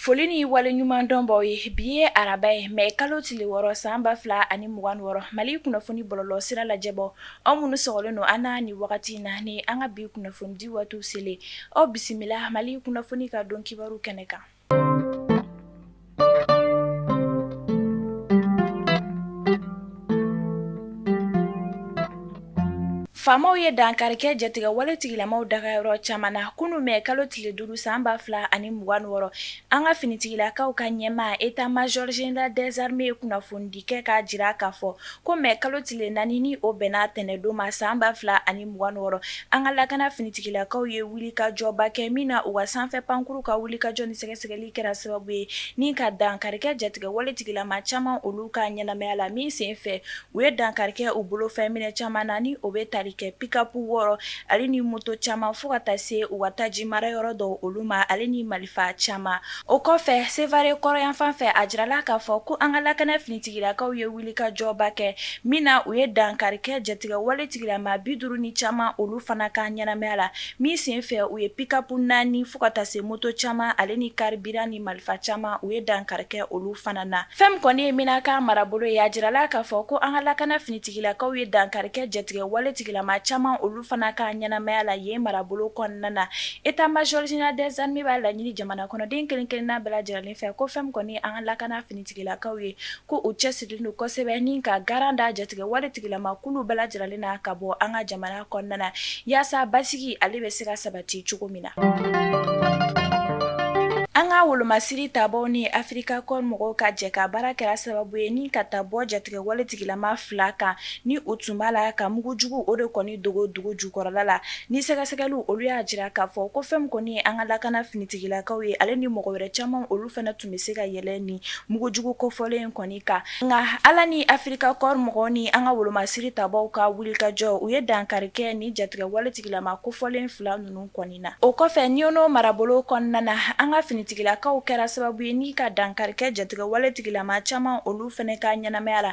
foli ni wale ɲuman dɔn b'aw ye bi ye araba ye mɛ kalo tile wɔɔrɔ san ba fila ani mugan wɔɔrɔ mali kunnafoni bɔlɔlɔ sira lajɛbaw aw minnu sɔgɔlen don an na ni wagati in na ni an ka bi kunnafonidi waati selen aw bisimila mali kunnafoni ka don kibaru kɛnɛ kan Faamaw ye dankarikɛ jatigɛ wale tigilamaw daga yɔrɔ caman na kunun mɛ kalo tile duuru san ba fila ani mugan wɔɔrɔ an ka finitigilakaw ka ɲɛmaa état major général des armées ye kunnafonidi kɛ k'a jira k'a fɔ Ko mɛ kalo tile naani ni o bɛnna tɛnɛndon ma san ba fila ani mugan wɔɔrɔ an ka lakana finitigilakaw ye wulikajɔba kɛ min na u ka sanfɛ pankuru ka wulikajɔ ni sɛgɛsɛgɛli kɛra sababu ye ni ka dankarikɛ jatigɛ waletigilama caman olu ka ɲɛnamaya la min sen fɛ u ye dankarikɛ u bolo fɛn minɛ caman na ni o bɛ tali kɛ pikapu wɔɔrɔ ale ni moto caman fo ka taa se u ka taji mara yɔrɔ dɔ olu ma ale ni mali fa caman o kɔfɛ sevare kɔrɔyanfan fɛ a jirala k'a fɔ ko an ka lakana finitigilakaw ye wulikajɔba kɛ min na u ye dankarikɛ jatigɛ waletigilama bi duuru ni caman olu fana ka ɲɛnamaya la min sen fɛ u ye pikapu naani fo ka taa se moto caman ale ni carburant ni marifa caman u ye dankarikɛ olu fana na fɛn min kɔni ye menaka marabolo ye a jirala k'a fɔ ko an ka lakana finitigilakaw ye dankarikɛ jatigɛ waletigilama caman olu Fana ka ɲɛnamaya la yen marabolo kɔnɔna na état major général des armées b'a laɲini jamana kɔnɔden kelen-kelenna bɛɛ lajɛlen fɛ ko fɛn min kɔni an ka lakana finitigilakaw ye ko u cɛsirilen don kosɛbɛ ni ka garan da jatigɛ waletigilama kulu bɛɛ lajɛlen na ka bɔ an ka jamana kɔnɔna na yaasa basigi ale bɛ se ka sabati cogo min na an ka wolomasiri tabaw ni afirika kɔɔri mɔgɔw ka jɛ ka baara kɛra sababu ye ni ka taa bɔ jatigɛ waletigilama fila kan ni u tun b'a la ka mugujugu o de kɔni dogo dugu jukɔrɔla la ni sɛgɛsɛgɛli olu y'a jira k'a fɔ ko fɛn min kɔni ye an ka lakana finitigilakaw ye ale ni mɔgɔ wɛrɛ caman olu fana tun bɛ se ka yɛlɛ ni mugujugu kofɔlen in kɔni kan nka ala ni afirika kɔɔri mɔgɔw ni an ka wolomasiri tabaw ka wulikajɔ u ye dankarikɛ ni jatigɛ waletigilama kofɔlen fila ninnu kɔni na o kɔfɛ ɲɔnɔ marabolo kɔnɔna na an ka finitigilakaw kɛra sababu ye ni ka dankarikɛ jatigɛ waletigilama caman olu fana ka ɲɛnamaya la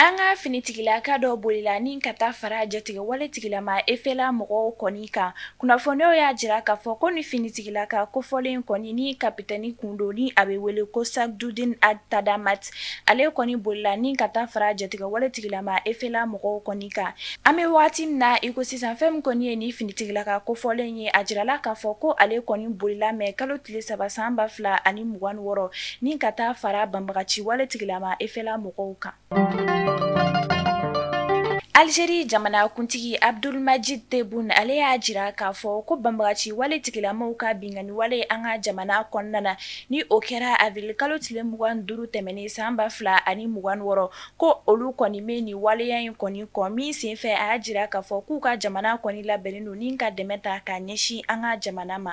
An ka finitigilaka dɔ bolila ni ka taa fara jatigɛ waletigilama efela mɔgɔw kɔni kan kunnafoniw y'a jira k'a fɔ ko ni finitigilaka kofɔlen kɔni ni kapitɛni kun don ni a bɛ wele ko Sagdudin Tadamat ale kɔni bolila ni ka taa fara jatigɛ waletigilama efela mɔgɔw kɔni kan an bɛ waati min na iko sisan fɛn min kɔni ye ni finitigilaka kofɔlen ye a jirala k'a fɔ ko ale kɔni bolila mɛ kalo tile saba san ba fila ani mugan wɔɔrɔ ni ka taa fara banbagaci waletigilama efela mɔgɔ mɔgɔw kan Algérie jamanakuntigi Abdulmajid Tebboune ale y'a jira k'a fɔ ko banbagaci wale tigilamaw ka binkanni wale an ka jamana kɔnɔna na, ni o kɛra avril kalo tile 25 tɛmɛnen san 2026 ko olu kɔni bɛ nin waleya in kɔni kɔn min senfɛ a y'a jira k'a fɔ k'u ka jamana kɔni labɛnnen don ni ka dɛmɛ ta k'a ɲɛsin an ka jamana ma.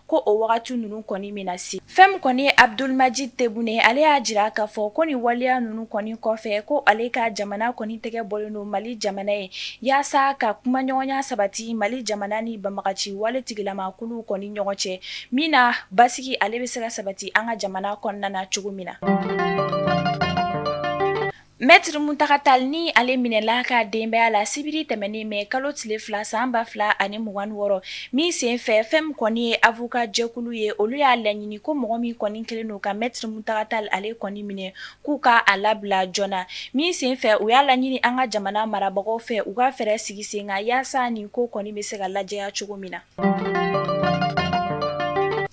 ko o wagati ninnu kɔni bɛna se fɛn min kɔni ye Abdulmajid Tebboune ye ale y'a jira k'a fɔ ko ni waleya ninnu kɔni kɔfɛ ko ale ka jamana kɔni tɛgɛ bɔlen don mali jamana ye yaasa ka kumaɲɔgɔnya sabati mali jamana ni banbagaci wale tigilama kulu kɔni ɲɔgɔn cɛ min na basigi ale bɛ se ka sabati an ka jamana kɔnɔna na cogo min na Mɛtiri Muntaga Tali ni ale minɛla ka denbaya la sibiri tɛmɛnen mɛ kalo tile fila san ba fila ani mugan wɔɔrɔ min sen fɛ fɛn min kɔni ye avoka jɛkulu ye olu y'a laɲini ko mɔgɔ min kɔni kelen don ka Mɛtiri Muntaga Tali ale kɔni minɛ k'u ka a labila joona min sen fɛ u y'a laɲini an ka jamana marabagaw fɛ u ka fɛɛrɛ sigi sen kan yaasa nin ko kɔni bɛ se ka lajɛya cogo min na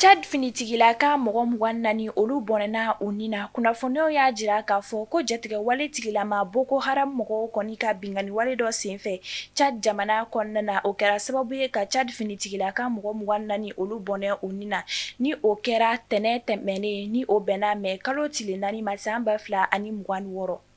Cad finitigilaka mɔgɔ mugan naani olu bɔnɛna u ni na kunnafoniw y'a jira k'a fɔ ko jatigɛwale tigilama Boko Haram mɔgɔw kɔni ka binkanniwale dɔ senfɛ Cad jamana kɔnɔna na o kɛra sababu ye ka Cad finitigilaka mɔgɔ mugan naani olu bɔnɛ u ni na ni o kɛra tɛnɛn tɛmɛnen ni o bɛnna mɛ kalo tile naani ma san ba fila ani mugan wɔɔrɔ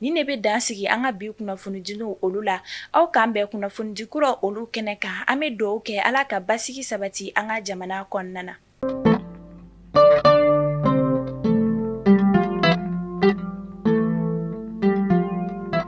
Ni ne bɛ dan sigi an ka bi kunnafonidiw olu la aw k'an bɛn kunnafonidi kuraw olu kɛnɛ kan an bɛ dugawu kɛ ala ka basigi sabati an ka jamana kɔnɔna na